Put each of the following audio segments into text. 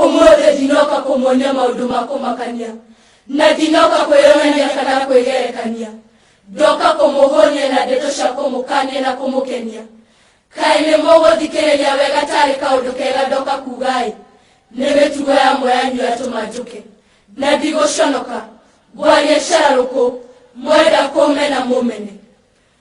ũmũthĩ ndinoka kũmuonia maũndũ ma kũmakania na ndinoka kwĩyonania kana kwĩgerekania ndoka kũmũhũnia na ndeto cia kũmũkania na kũmũkenia kaĩ nĩ mũgũthikĩrĩria wega tarĩ kaũndũ kega ndoka kugaĩ nĩ mĩtugo ya mweyanyu yatũma njũke na ndigũconoka ngwaria cararũkũ mwenda kũmena mũmene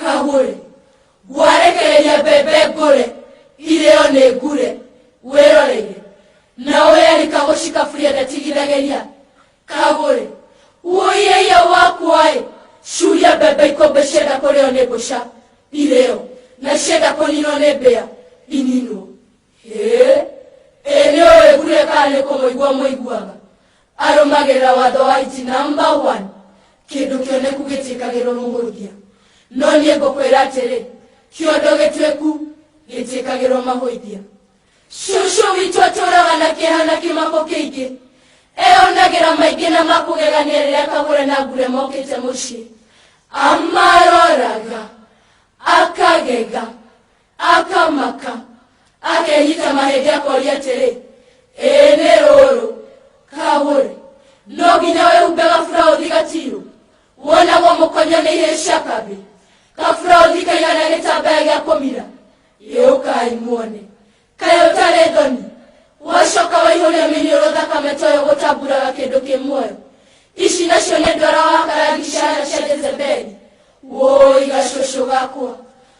kagũrĩ ngwarekereria mbembe ngũrĩ irĩo nĩ ngure wĩroreire na ũyarika gũcikaburia ndatigithagĩria kagũrĩ uoireia wakwaĩ curia mbembe ikũmbĩ cienda kũrĩo nĩ mbũca irĩo na cienda kũninwo nĩ mbĩa ininwo Ĩĩ, ĩĩ nĩ ũĩ kure kana nĩ kũmũigua mũiguaga arũmagĩrĩra watho wa iti namba 1 kĩndũ kĩoneku gĩtiĩkagĩrwo mũhũthia no niĩ ngũkwĩra atĩrĩ kĩondo gĩtuĩku gĩtiĩkagĩrwo mahũithia cũcũ witũ atũraga na kĩeha na kĩmako kĩingĩ eyonagĩra maingĩ na makũgegania rĩrĩa kagũre na ngure mokĩte mũciĩ amaroraga akagega akamaka akenyita mahĩndĩ akoria atĩrĩ ĩĩ nĩ rũrũ kagũre no nginya wĩhumbe gaburaũthi gatirũ wonagwo mũkonyo nĩ ihĩĩ cia kambĩ gaburaũthi kaigana gĩtambaya gĩa kũmira yũkai muone kaĩ ũtarĩ thoni wacoka waihũria mĩnyũrũ thakame toyo gũtamburaga kĩndũ kĩ muoyo ici nacio nĩ ndwara wa karangi ciana cia jezebeli woi gacũcũ gakwa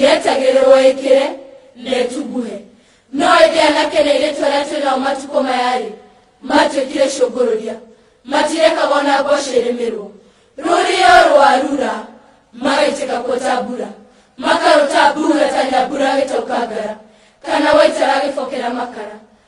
yetagĩrĩrwo ĩkĩre na ĩtunguhe no ĩndĩ anake na airĩtu arĩa twĩ nao matukũ maya-rĩ matuĩkire cũngũrũria matirekaga ona mboco ĩrĩmĩrwo rũrĩo rwarura magaitĩka kuo ta mbura makarũta mbura ta nyambura agĩtaũka ngara kana waitara agĩbokera makara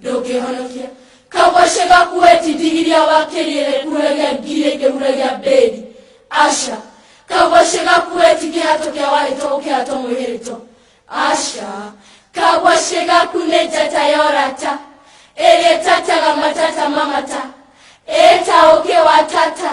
ndũngĩhonokia kagwacĩ gaku wetitigithia wakĩrĩre kuragia ngiri ĩngĩ huragia mbĩri aca kagwacĩ gaku wetikĩhato kĩa warĩto gũkĩhato mwĩhĩrĩto aca kagwacĩ gaku nĩ njata ya ũrata ĩrĩa ĩtataga matata mamata ĩta ũkĩ wa tata